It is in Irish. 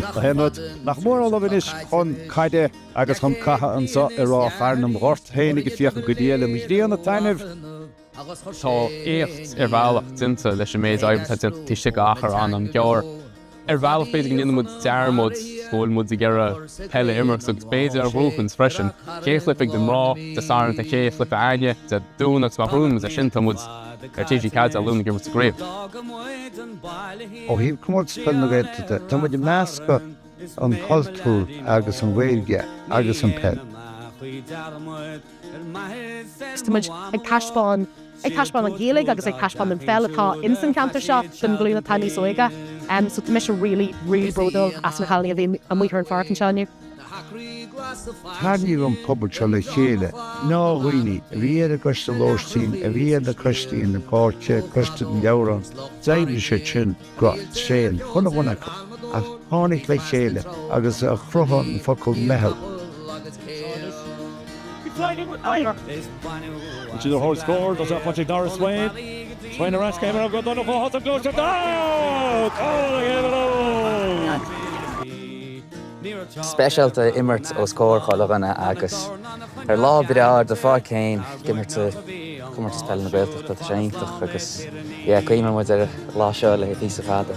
Aonad nach mór a Ullamh anois chun caide agus chun catha anseo i Ráth Chairn An gort féin ag féachaint go diail an ghrian a taitneamh. Tá éacht ar bhealach déanta leis an méid oibre atá déanta taobh istigh d'achar an-an ghearr. Ar bhealach b'fhéidir go ndéanann muid dearmad go bhfuil muid ag iarraidh peil a imirt agus b'fhéidir a bhuachaint freisin. Dhá chluiche Dé Máirt, Dé Sathairn, dhá chluiche againne Dé Domhnaigh agus má bhuann muid é sin tá muid ar TG4 Dé Luain ag imirt sa gcraobh. Ó thaobh Comórtas Peile na Gaeltachta de, tá muid ag meascadh, an cultúr agus an Ghaeilge agus an peil. Agus tá muid ag taispeáin, ag taispeáin an Ghaeilge agus ag taispeáin an pheil atá in san ceantar seo don glúin atá níos óige. So tá mise really, really bródúil as na cailíní a bhí amuigh ar an pháirc anseo inniu. Tarraingíonn an pobal seo le chéile, gnáthdhaoine a bhí ar an gcoiste lóistín, a bhí ar na coistí na páirce, coiste an leabhráin, d'éirigh siad sin go tréan chun a bhun acu, a tháinig le chéile agus a chruthaigh an focal 'meitheal'. Is iad a thóg scór do Chill Chainnigh Darragh Swain, Swain ar ais go hImir Óg Ó Donnchú a shásamh gluaisteán amach, cúl a dhéanamh an fhóid! speisialta a imirt os comhair chuile dhuine agus ar lá breá ar do pháirc féin ag imirt i gComórtas Peile na Gaeltachta. Tá sé iontach agus yeah cuimhneoidh muid ar an lá seo le píosa fada.